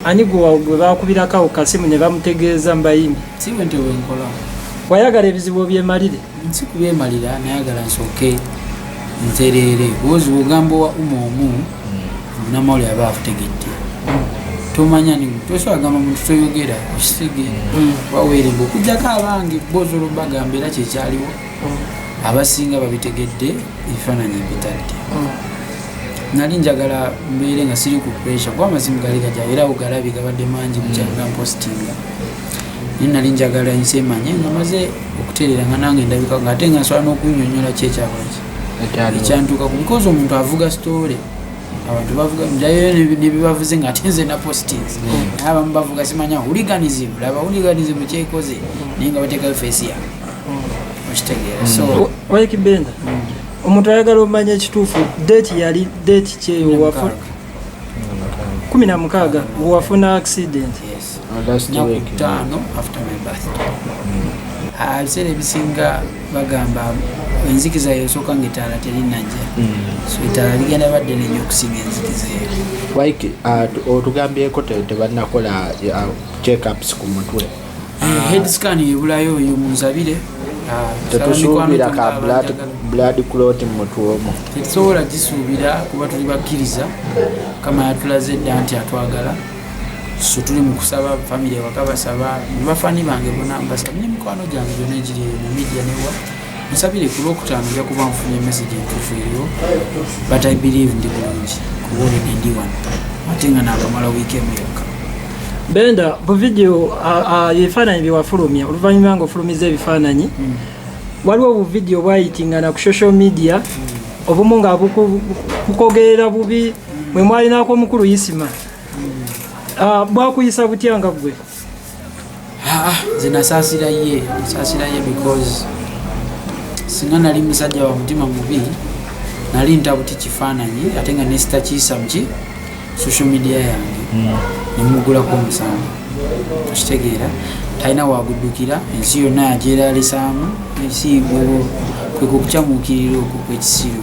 Ani gwe baakubirako awo kasimu ne bamutegeeza mbayimbi? Si bwe ntyo bwe nkola. Wayagala ebizibu obyemalire? Si kubyemalira, nayagala nsooke ntereere. Bwozi bw'ogamba owa umu omu, namawuli aba akutegedde. Tomanya ni tosobola kugamba muntu toyogera okisege mm. waweeremba okujjako abange boozi olwo bagamba era kyekyaliwo mm. abasinga babitegedde ebifaananyi mpitadde mm. nali njagala mbeere nga siri ku pressure kuba amazimu gali gaja era ogalabi gabadde mangi bukyanga mm. mpostinga naye nali njagala ensi emanye nga maze okutereera nga nange ndabika nga ate nga nsobola n'okunyonyola ki ekyakolaki ekyantuuka ku because omuntu avuga story abantu bavuga njayo nebibavuze nga ate nze na postings mm. naye abamu bavuga simanya huliganism laba huliganism kyekoze naye nga bateekayo fesi yange wayekibenda mm. omuntu ayagala omanya ekituufu date yali date kyeyo kumi na mukaaga wafuna accident ebiseera ebisinga bagamba enzikiza yosooka nga etaala terinajja mm. so etaala ligenda badde nenyo okusinga enzikiza eyo uh, otugambyeko tebanakola uh, checkups ku mutwe Eh, head scan ebulayo oyo munzabire ah, tetusuubira ka blood clot mumutwomu tetusobola gisuubira kuba tuli bakkiriza kama yatulaze dda nti atwagala so tuli mukusaba famiry waka basaba bafani bange bona mbasabi nemikwano gyange gyona egiri mumidia newa musabire ku lwokutaano nja kuba nfunye message entuufu eriyo but i believe ndi bulungi kuba olina ndi wano ate nga naakamala wiiki emu yokka benda bu vidiyo ebifaananyi byewafulumya oluvannyuma nga ofulumiza ebifaananyi hmm. waliwo bu vidiyo bwayitingana ku social media hmm. obumu nga bukogerera bubi mwe mwalinako omukulu isima hmm. ah, bwakuyisa butya nga ggwe Ah, ah, nze nasaasira ye nasaasira ye because singa nali musajja wa mutima mubi nali ntabuti kifaananyi ate nga nesitakiisa muki social media yange hmm. nemugulako omusango okitegeera talina waguddukira ensi yonna yagyeralisaamu ensi kwekukukyamuukirira okwo kwekisiru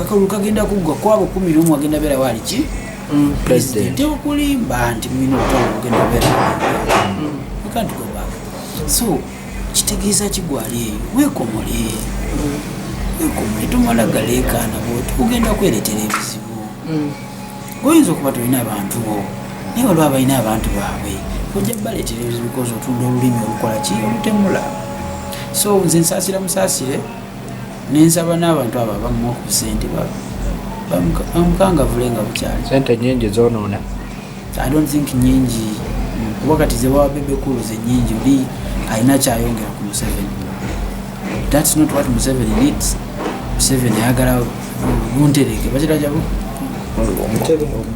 akalulu kagenda kuggwa kwabo kumi nomu agenda beera waali ki mm. pulezidenti okulimba nti mulina obutala bugenda beera ekantugobaka mm. so kitegeeza kigwali eyo wekomole mm. wekomole tomala galeekaana bwoti ogenda kweretera ebizibu oyinza okuba tolina abantu bo naye waliwo abalina abantu baabwe ojja baleetera ebizibu koza otunda olulimi olukola ki olutemula so nze nsaasira musaasire nensaba n'abantu abo abamuwa ku sente bamukangavule nga bukyali sente nyingi zonoona i don't think nyingi kuba kati zewawa bebekulu zenyingi oli alina kyayongera ku museveni thats not what museveni needs museveni ayagala buntereke bakirajabu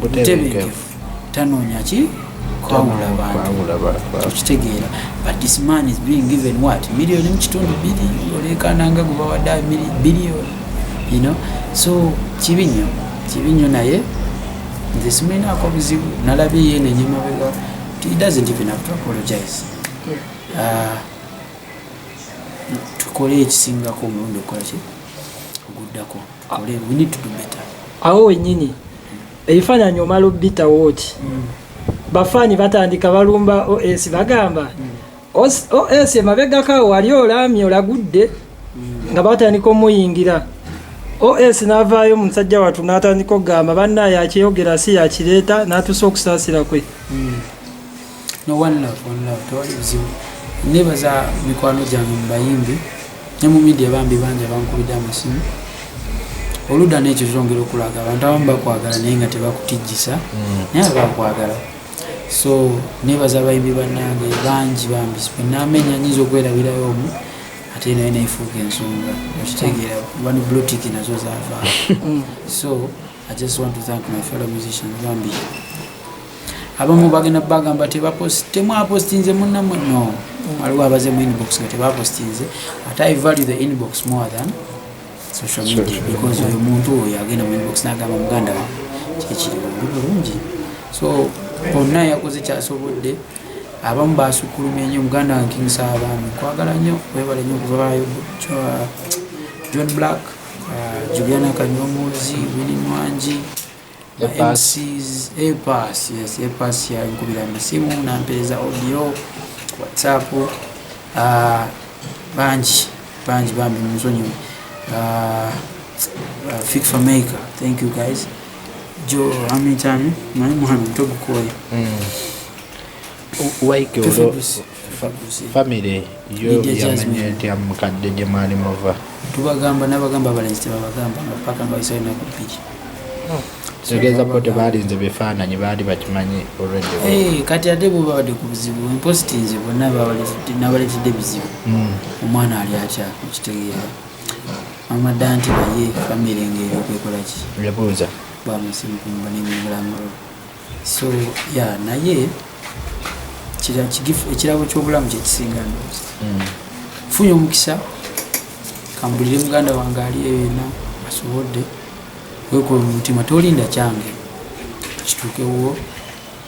butebenkevu tanoonya ki kwawula bantu okitegeera but this man is being given what million mu kitundu biri oleekaana nga gwe bawadde billion you know so kibi nnyo kibi nnyo naye nze simulinaako buzibu nalabye ye nenyemabega he doesn't even have to apologize ah, tukole ekisingako omulundi okukola ki oguddako we need to do better awo wenyini ebifaananyi omala obbitawo ki mm. bafaani batandika balumba os bagamba mm. os emabegaka wali olaamye olagudde mm. nga batandika omuyingira os n'avaayo musajja wattu n'atandika okugamba banna yakyeyogera si yakireeta n'atuusa okusaasira kwe no one love one love tewali buzibu nebaza mikwano gyange mu bayimbi ne mu midia bambi bangi abankubidde amasimu oludda nekyo zongera okulaga abantu abamu bakwagala naye nga tebakutijjisa mm. naye abakwagala so nebaza abayimbi banange bangi bambi enamenya nyinza okwerabirayo omu ate naye nefuuka ensonga okitegeera bani blotik nazo zava mm. so I just want to thank my fellow musicians bambi abamu bagenda bagamba temwapostinze munamwe no waliwo abaze mu inbox nga tebapostinze ate i value the inbox more than social media because oyo muntu oyo agenda mu inbox nagamba muganda wa kyekiriwo ndi bulungi so onna yakoze kyasobodde abamu basukulumye nyo muganda wange king saabami kwagala nyo webale nyo kuvaayo john black Juliana Kanyomozi, Winnie Mwangi, MCs, APAS, yes, APAS ya nkubira amasimu na mpeereza audio, WhatsApp, uh, ah, banji, banji bambi muzonyo, uh, ah, uh, ah, Fix for Maker, thank you guys. Jo, how many times? Mwani Muhammad, togu koi. Mm. Why kyo? famire yo yamanya etya mukadde gye mwali muva tubagamba nabagamba abalenzi tebabagamba nga paka nga bayisayo naku bbiri tegeeza bo tebaalinze bifaananyi baali bakimanyi olwedde eh, kati ate bo babadde ku buzibu emposti nze bonna nabaletedde bizibu hmm. omwana ali atya okitegeera amadda nti naye famire ngaeyo okwekolaki yabuuza bwamusimukumba nemulamulo so ya naye ekirabo kyobulamu kyekisinga ndozi hmm. funye omukisa kambulire muganda wange ali eyo yena asobodde wekola mumutima tolinda kyange kituukewuwo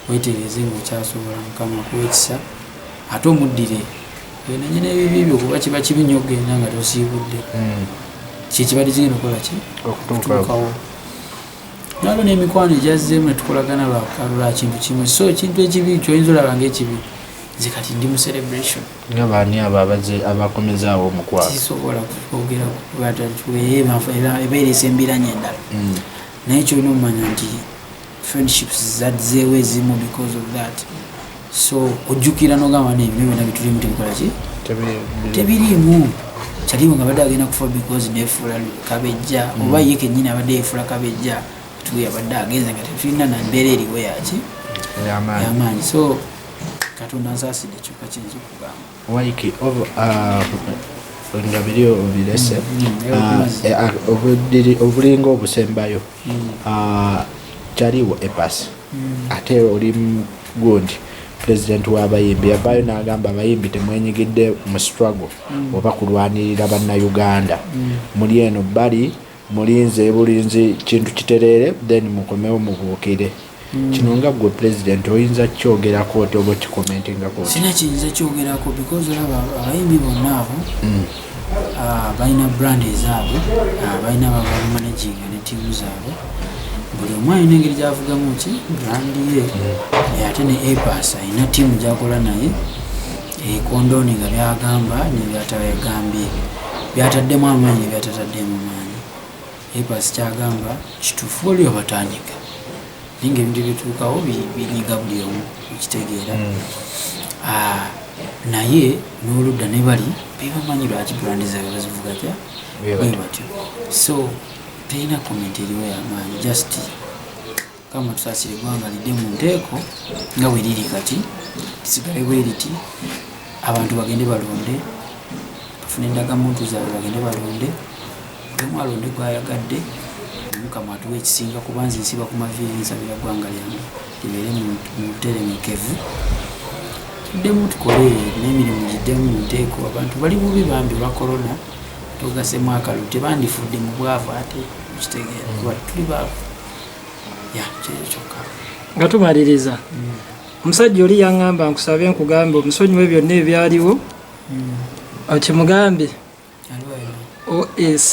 wetereeze nga okyasobola mukama kuwekisa ate omuddire wenanye nebibi byo kuba kiba kibi nyo okugenda nga tosiibudde hmm. kyekibadde kigenda okukola ki okutuukawo nabo n'emikwano egyazzeemu ne tukolagana lwa kintu kimu so ekintu ekibi kyoyinza olaba ngaekibi nze kati ndi mu celebration nga baani abo abaze abakomezaawo omukwano kisobola kwogera ebeeresa embiranye endala mm. naye kyolina omumanya nti friendships zadzeewo ezimu because of that so ojjukira nogamba nti ebintu byonna bitulimu tebikola ki tebiriimu kyaliwo nga badde agenda kufa because nefuula kabejja mm. oba ye kenyini abadde yefuula kabejja tuyabadde agenze nga tetulina nambeera eriwo yaki yamaanyi so katonda nsaasidde kyokka kiyinza okugamba waiki uh, nga biri obirese mm, mm, uh, eh, uh, obulinga obusembayo Ah, kyaliwo epas hmm. ate oli gundi pulezidenti w'abayimbi yavaayo n'agamba abayimbi temwenyigidde mu struggle hmm. oba kulwanirira bannayuganda hmm. muli eno bali mulinze bulinzi kintu kitereere then mukomewo mubuukire kino nga gwe president oyinza kukyogerako oti oba okikomentingako sina kiyinza kyogerako because olaba abayimbi bonna abo hmm. ah, balina brand ezaabwe ah, balina babamanaginga ne tiimu zaabwe buli omu alina engeri gyavugamu ki brand ye hmm. ate ne apas alina tiimu gyakola naye ekondooni nga byagamba nebyatayagambye byataddemu amaanyi nebyatataddeemu maanyi Epas kyagamba kitufu waliwo abatanyika naye nga ebintu bituukawo binyiga buli omu okitegeera hmm. ah, naye n'oludda ne bali bebamanyi lwaki brandi zaabwe bazivuga tya bwe batyo so terina komenti eriwo yamaanyi just Mukama tusasire eggwanga lidde mu nteeko nga bwe liri kati lisigale bwe liti abantu bagende balonde bafune endagamuntu zaabwe bagende balonde emu alonde gwayagadde mukama atuwa ekisinga kuba nze nsiba ku maviiri nsabira ggwanga lyange libeere mu buteremekevu tuddemu tukole n'emirimu giddemu mu nteeko abantu bali bubi bambi olwa korona tugasemu akalulu tebandifudde mu bwavu ate okitegeera kuba tuli baavu nga tumaliriza omusajja oli yaŋŋamba nkusabe nkugambe omusonyiwe byonna ebyaliwo hmm. okimugambe os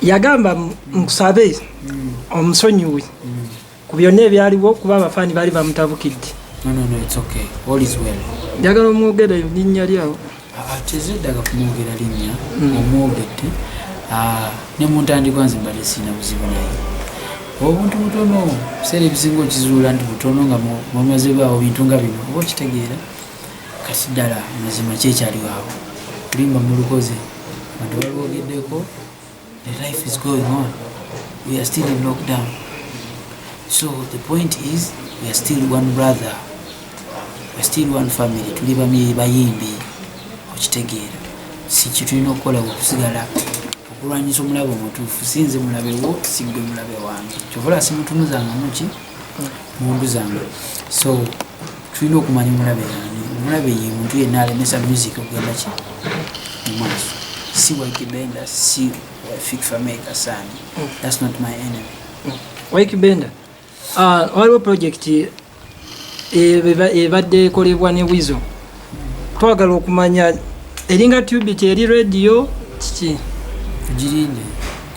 yagamba nkusabe hmm. omusonyiwe hmm. ku byonna ebyaliwo kuba abafaani baali bamutabukidde njagala omwogere linnya lyawo tezeddaga kumwogera linnya hmm. omwogedde ah, ne mu ntandikwa nze mbadde sirina buzibu naye obuntu butono biseera ebisinga okizuula nti butono nga mwamazebwawo bintu nga bino oba okitegeera kati ddala mazima kyekyaliwo awo olimba mulukoze bantu balwogeddeko The life is going on. We are still in lockdown. So the point is we are still one brother. We are still one family. Tuli bamiri bayimbi okitegeera. Si kitulina okukola okusigala okulwanyisa omulabe omutuufu sinze mulabe wo sigwe mulabe wange. Kyovola simutunuzanga muki mundu zange so tulina okumanya omulabe yani omulabe ye muntu yenna alemesa music okugenda ki mumaaso si waikibenda si fikfameka sani thats not my enemy waikibenda ah, waliwo project ebadde ekolebwa ne wizo twagala okumanya eringa tube teri radio kiki tugirinde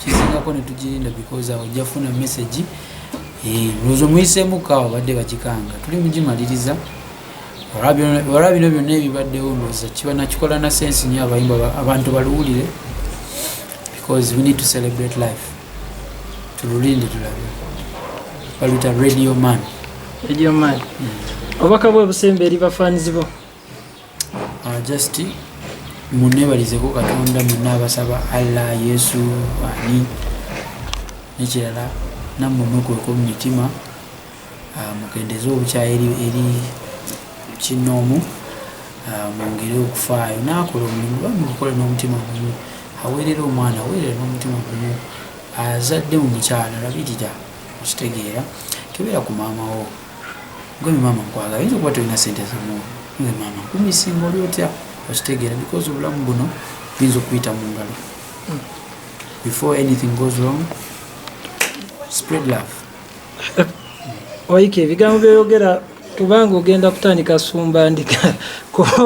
kizingako netugirinda because awo jafuna message Eh, ndowooza omuyiseemu ka obadde bagikanga tuli mugimaliriza olwa bino byonna ebibaddewo ndowooza kiba nakikola na sensi nyo abayimba abantu baluwulire because we need to celebrate life tululinde tulabe baluyita radio man radio man hmm. obubaka bwe busemba eri bafaanizi bo ah, just munebalizeko katonda mwenna abasaba allah yesu ani nekirala nammwe mukweka mu mitima ah, mukendeze obukyayi eri kinnoomu ah, mwongere okufaayo naakola omulimu bamukukola n'omutima gumu aweerera omwana aweerera n'omutima gumu azadde mu mukyala labirira okitegeera kebeera ku maama wo Gwe maama nkwagala yinza okuba tolina sente zamuwa gwe maama nkumisinga oli otya okitegeera because obulamu buno buyinza okuyita mu ngalo before anything goes wrong spread love waike ebigambo byoyogera kubanga ogenda kutandika sumba ndika kuba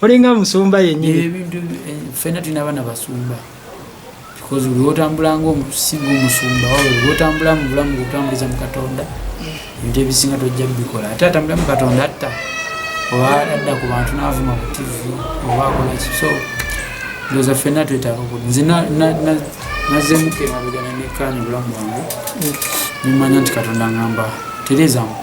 olinga musumba yenyini eh, fena tulina abaana basumba because buli wotambula ngaomusinga omusumba wabwe buli wotambula mu bulamu bwotambuliza mu katonda ebintu ebisinga tojja bikola ate atambula mu katonda atta oba adda ku bantu naavuma ku tv oba akola ki so ndoza ffenna twetaaga ku nze nazemuka emabegana nekkaani bulamu bwange nemanya nti katonda ngamba tereezamu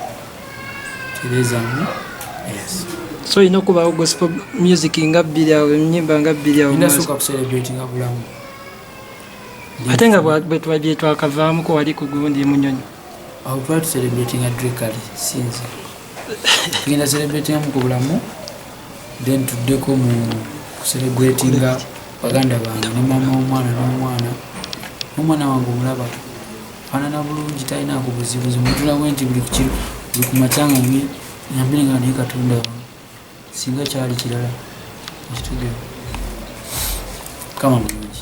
so olina okubawo gospel music nga bbiri awo enyimba nga bbiri awo ate nga byetwakavaamuko wali ku gundi munyonyi awo twali tucelebratinga drekali sinzi tugenda celebratinga mu ku bulamu then tuddeko mu kucelebratinga baganda bange ne maama womwana nomwana nomwana wange omulaba fanana bulungi talina kubuzibuzi mutulawo nti buli kukiro buli kumakyanga ne nyambire nga naye katonda wange singa kyali kirala ekitegeera kama bulungi